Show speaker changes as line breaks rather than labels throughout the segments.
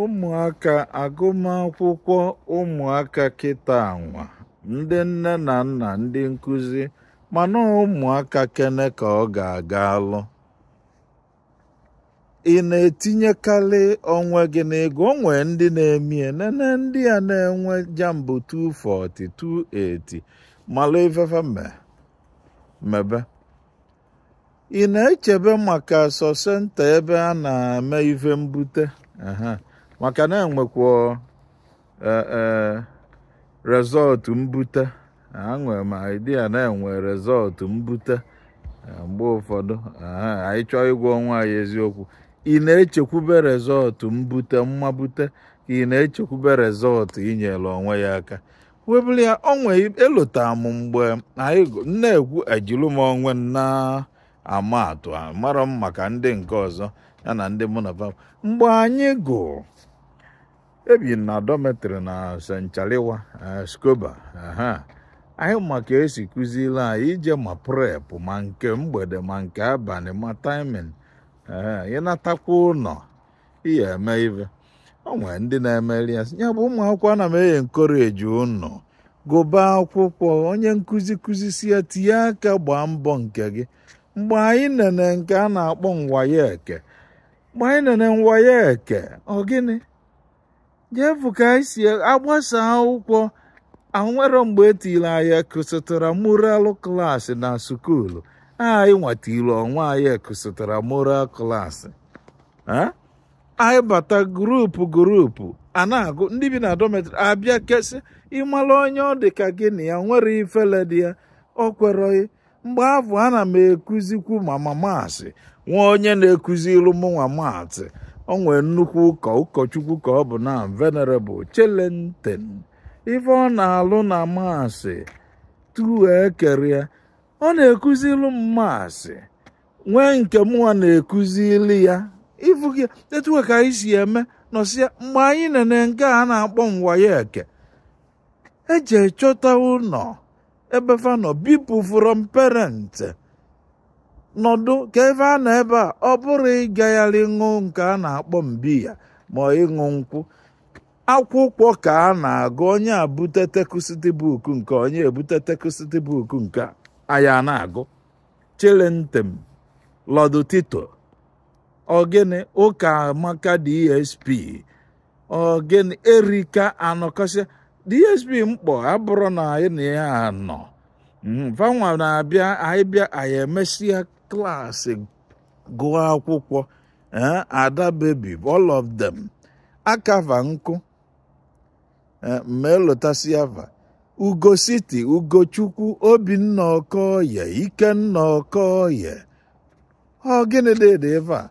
ụmụaka agụmakwụkwọ ụmụaka kịta anwa ndị nne na nna ndị nkụzi mana ụmụaka kene ka ọ ga-aga alụ ị na-etinyekarị onwe gị n'ego o nwee ndị na-emie nene ndị a na-enwe jamb 240 280 malụ ife fe mebe ị na-echebe maka sọ centre ebe a na-eme ife mbute aha maka na enwekwa eh, eh, result mbute enwere m idea na-enwe result mbute eh, mgbe ụfọdụ aha anyị chọọ ịgwa onwe anyị eziokwu ị na-echekwube result mbute mmabute ka ị na-echekwube result inyere onwe ya aka webụrụ ya onwe elota m mgbe anyị na-ekwu ejilu m onwe na-ama atụ mara m maka ndị nke ọzọ ya na ndị mụ na fa mgbe anyị gụ ebi na dormitory na saint charles eh, scoba anyị ma ka e si kụziri anyị ije ma prep ma nke mgbede ma nke abanị ma timing ị natakwa ụnọ ihe eme ive o nwere ndị na-emeri ya ya bụ ụmụ akwụkwọ ana m encourage ụnụ gụba akwụkwọ onye nkụzi kụzisi ya tinye aka gbaa mbọ nke gị mgbe anyị nene nke a na-akpọ waec mgbe anyị nene waec ọ gịnị je fụ ka anyị si agbasa akwụkwọ e nwere mgbe e tiri anyị extramural class na school anyịnwa tiri onwe anyị extramural class anyị bata group group a na-agụ ndị bi na dormitory a bịa kesị ịmara onye ọ dị ka gị na ya nwere ifele dị ya o kwere mgbe afụ ana m ekuzikwu ma ma maths nwee onye na-ekuzilu mụnwa maths o nwee nnukwu ụkọ ụkọchukwu ka ọ bụ na venerable chelenten ife ọ na-alụ na maths tuo ekere ya ọ na-ekuzilu m maths nwee nke mụnwa na-ekuzilu ya ị fụgo etu a ka anyị si eme nọsịa mgbe anyị nene nke a na-akpọ waec e je chọta ụnọ ebe fa nọ bipụ from parent nọdụ ka ebe a nọ ebe a ọ bụrọ ịgagharị ṅụ nke a na-akpọ biya ma ịṅụ nkwụ akwụkwọ ka a na-agụ onye ebute textbook nke onye ebute textbook nke ya a na-agụ chelenten lord tito ọ gịnị ukamaka dsp ogen erika anọkọsịa dsp mkpọ abụrụ na anyị na ya anọ vanwa hmm, na-abịa anyị bịa anyị emesịa class gụọ akwụkwọ eh, ada baby all of them akava nkụ eh, ma elotasịa va ugo city ugochukwu obinna okoye ikenna okoye ọ gịnị dị ebe a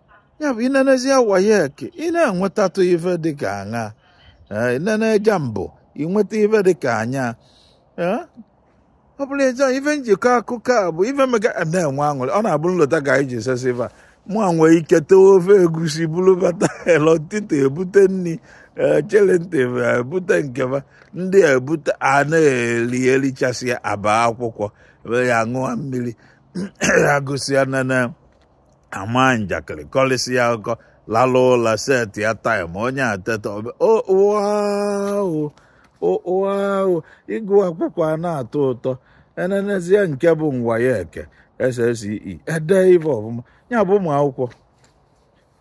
ya bụ inenezie WAEC ị na-enwetatụ ife dịka aṅa inene JAMB inweta ife dịka anya ọ bụrụ ịjọ ife m ji akọ akụkọ a bụ ife mega na-enwe aṅụrị ọ na-abụ m lota ka anyị si esi ife a mụa nwee ike tewe ofe egusi buru bata elọtịta ebute nri chere ntị ebute nke va ndị a ebute a na-eri erichasịa aba akwụkwọ ya ṅụọ mmiri agụsịa na ama njakịrị kọlịsịa akụkọ lalụ ụla setia time onye eteta ọ bụ ịgụ akwụkwọ a na-atọ ụtọ enenezie nke bụ WAEC SSCE ede ife ọfụma ya bụ ụmụ akwụkwọ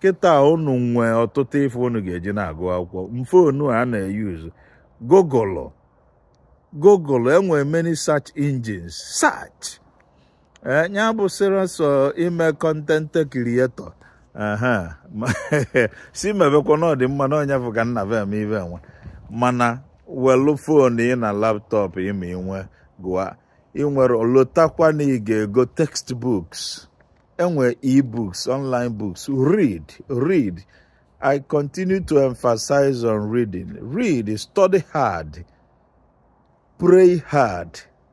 kịta unu nwee ọtụtụ ife unu ga-eji na-agụ akwụkwọ na phone a na-eyuzu google google enwere many search engines search ee ya bụ sịrọ sọ ime content creator aha ma- si mebekwa na ọ dị mma na onye bụ ka nna be eme ife enwe mana welu phone ị na laptop ị ma i nwee gụa i nwerọ lotakwa na ị ga-ego textbooks enwe ebooks online books read read i continue to emphasize on reading read study hard pray hard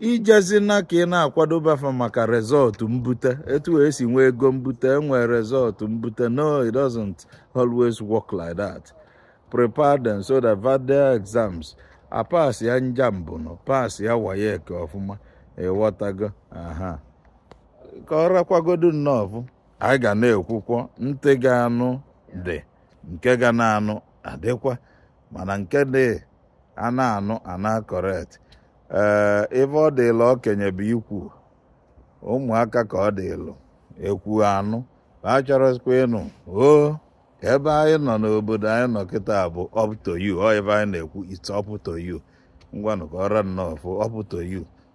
ijezina ka ị na-akwadoba fa maka result mbute etu e si nwee ego mbute enwee result mbute no it doesn't always work like that prepare them so that their exams apasịa na JAMB nụ pasịa WAEC ọfụma ịghọtago aha ka ọ rakwagodu nnọọ anyị ga na-ekwukwa ntị ga-anụ dị nke ga na-anụ adịkwa mana nke dị a na-anụ ana correct ee ife ọ dịlụ okenye bụ ikwu ụmụaka ka ọ dịlụ ekwu anụ ma a chọrọzikwa ịnụ o ka ebe anyị nọ n'obodo anyị nọ kịta bụ up to you ọ ebe anyị na-ekwu it's up to you ngwanụ ka ọ ra nnọọ fụ up to you